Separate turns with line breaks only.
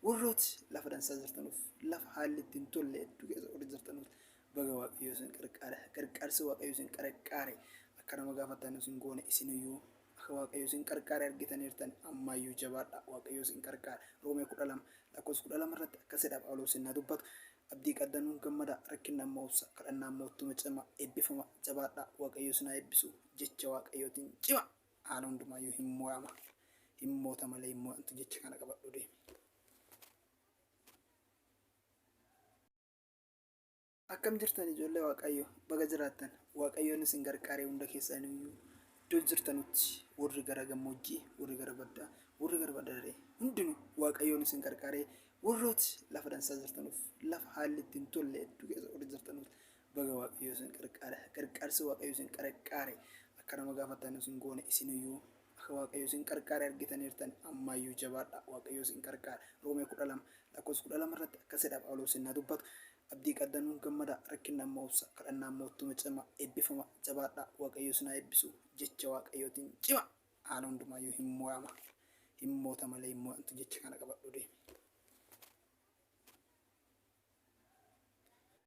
Warrooti lafa dansaa jirtanuuf, lafa haalli itti hin tolle hedduu keessa warri jirtanuuf baga Waaqayyo isin qarqaare. Qarqaarsi Waaqayyo isin qarqaare akka nama gaafattan isin goone isiniyyuu akka Waaqayyo isin qarqaare argitaniirtan ammaayyuu jabaadha Waaqayyo isin qarqaara. Roomee kudha lama lakkoofsa kudha lama irratti akkasidha Phaawulos innaa dubbatu. Abdii qaddanuun gammada, rakkinna immoo obsa, kadhannaa immoo ittuma cima, eebbifama, jabaadha Waaqayyo isin haa eebbisu, jecha Waaqayyootiin cima. Haala hundumaayyuu hin mo'ama. Hin moota malee hin mo'antu jecha kana qabadhu deemi. Akkam jirtan ijoollee Waaqayyo baga jiraattan Waaqayyoon isin gargaaree hunda keessan iyyuu iddoo jirtanutti warri gara gammoojjii warri gara baddaa warri gara baddaa daree hundinuu Waaqayyoon isin gargaaree warrooti lafa dansaa jirtanuuf lafa haalli ittiin tolle hedduu keessa warri jirtanuuf Baga waaqayyoo isin qarqaare qarqaarsi waaqayyoo isin qarqaare akka nama gaafattan isin goone isiniyyuu akka waaqayyoo isin qarqaare argitaniirtan ammaayyuu jabaadha waaqayyoo isin qarqaare roomee kudha lama lakkoofsa kudha lama irratti akkasidha phaawuloos innaa dubbatu abdii qaddanuun gammada rakkinna immoo obsa kadhannaa immoo ittuma cima eebbifama jabaadha waaqayyoo isin haa eebbisu jecha waaqayyootiin cima haala hundumaayyuu hin mo'ama hin moota malee hin mo'amtu jecha kana qabadhu deemi.